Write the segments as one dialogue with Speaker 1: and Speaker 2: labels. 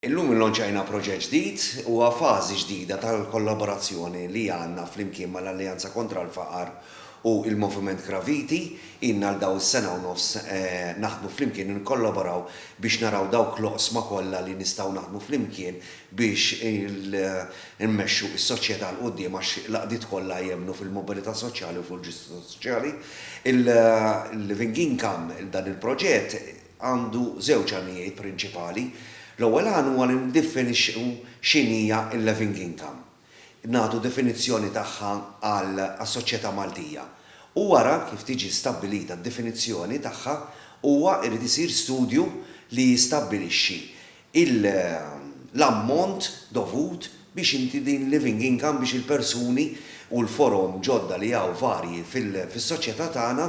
Speaker 1: Illum illanċajna proġett ġdid u fażi ġdida tal-kollaborazzjoni li għandna flimkien mal-Alleanza Kontra l-Faqar u il-Moviment Graviti. Ilna għal dawn is-sena u nofs naħdmu flimkien u nikkollaboraw biex naraw dawk l-oqsma kollha li nistgħu naħdmu flimkien biex immexxu s-soċjetà 'l quddiem għax l-għaqdiet kollha jemmnu fil-mobilità soċjali u fil-ġustizzja soċjali. Il-Living Income, dan il-proġett, għandu żewġ għanijiet prinċipali. L-ewwel għan huwa li niddiffinixxu x'inhi hija l-living income, nagħtu definizzjoni tagħha għas-soċjetà Maltija u wara kif tiġi stabbilita d-definizzjoni tagħha huwa jrid isir studju li jistabbilixxi l-ammont dovut biex inti din living income biex il-persuni u l-forom ġodda li hawn varji fis-soċjetà tagħna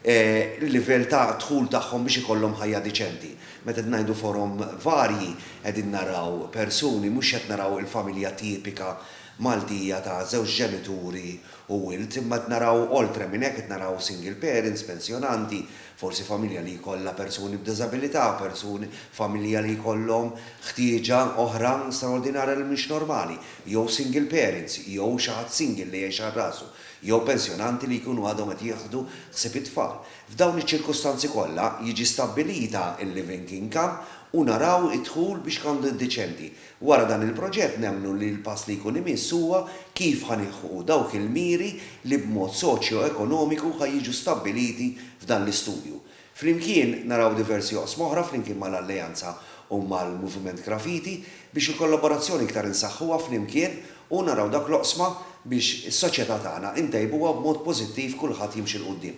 Speaker 1: l-livell ta' dħul tagħhom biex ikollhom ħajja diċenti. Meta qed ngħidu forom varji qegħdin naraw persuni mhux qed naraw il-familja tipika Maltija ta' żewġ ġenituri u wild imma qed naraw oltre minn hekk qed naraw single parents, pensjonanti, Forsi familja li jkollha persuni b'diżabilità, persuni, familja li jkollhom ħtieġa oħra straordinarja li mhix normali, jew single parents, jew xi ħadd single li jgħix għal rasu, jew pensjonanti li jkunu għadhom qed jieħdu ħsieb it-tfal. F'dawn iċ-ċirkustanzi kollha, jiġi stabbilita l-living income u naraw id-dħul biex ikollu diċenti. Wara dan il-proġett nemmnu li l-pass li jkun imiss huwa kif ħa nilħqu dawk il-miri li b'mod soċjoekonomiku ħa jiġu stabbiliti f'dan l-istudju. Flimkien naraw diversi oqsma oħra flimkien mal-Alleanza u mal-Moviment Graffiti biex il-kollaborazzjoni iktar insaħħuha flimkien u naraw dawk l-oqsma biex is-soċjetà tagħna intejbuha b'mod pożittiv kulħadd jimxi 'l quddiem.